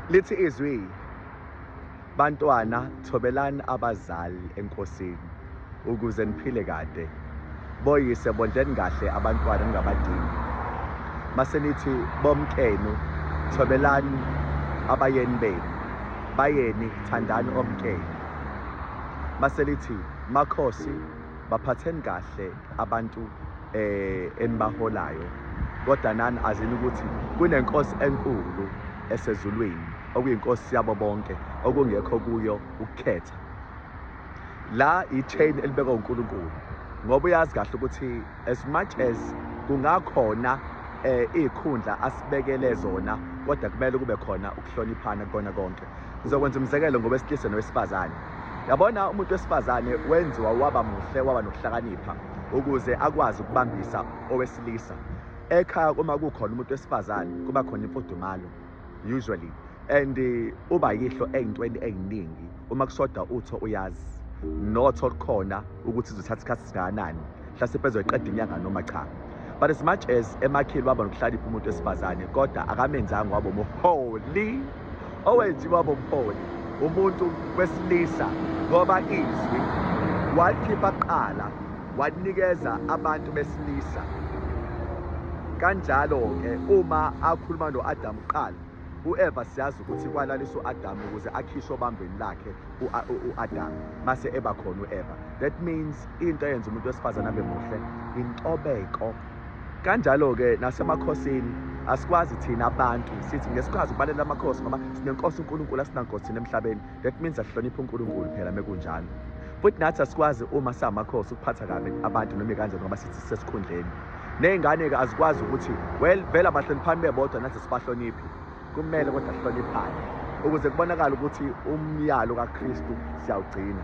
lithi izwi bantwana thobelani abazali enkosini ukuze niphile kade boyise bondleni kahle abantwana ningabadingi mase nithi bomkenu thobelani abayeni benu bayeni thandani omkenu mase lithi makhosi baphatheni kahle abantu eh enibaholayo kodwa nani azini ukuthi kunenkosi enkulu esezulwini okuyinkosi yabo bonke okungekho kuyo ukukhetha la i-chain elibekwa uNkulunkulu ngoba uyazi kahle ukuthi as much as kungakhona eh izikhundla asibekele zona kodwa kumele kube khona ukuhloniphana kona konke ngizokwenza umzekelo ngowesilisa nowesifazane yabona umuntu wesifazane wenziwa waba muhle waba nokuhlakanipha ukuze akwazi ukubambisa owesilisa ekhaya uma kukhona umuntu wesifazane kuba khona imfudumalo usually and eh, uba yihlo ey'ntweni ey'ningi uma kushoda utho uyazi notho khona ukuthi izothatha isikhathi singakanani mhlasimpe ezoyiqeda inyanga noma cha but as much as emakhili waba nokuhlalipha umuntu wesifazane kodwa akamenzanga waba umholi owenziwa waba umholi umuntu wesilisa ngoba izwi walikhipha kuqala walinikeza abantu besilisa kanjalo-ke uma akhuluma no-adamu kuqala UEva siyazi ukuthi kwalaliswa uAdam ukuze akhishwe obambeni lakhe uAdam mase eba khona uEva. That means into eyenza umuntu wesifazane abe muhle intobeko. Kanjalo ke nasemakhosini asikwazi thina abantu sithi ngesikhazi kubalela amakhosi ngoba sinenkosi uNkulunkulu asinankosi thina emhlabeni. that means asihloniphe uNkulunkulu phela mekunjalo futhi nathi asikwazi uma samakhosi ukuphatha kabi abantu noma kanjani ngoba sithi sesikhundleni ney'ngane-ke azikwazi ukuthi well vele abahloniphani bebodwa nathi sibahloniphi kumele kodwa sihloniphane ukuze kubonakale ukuthi umyalo kakristu siyawugcina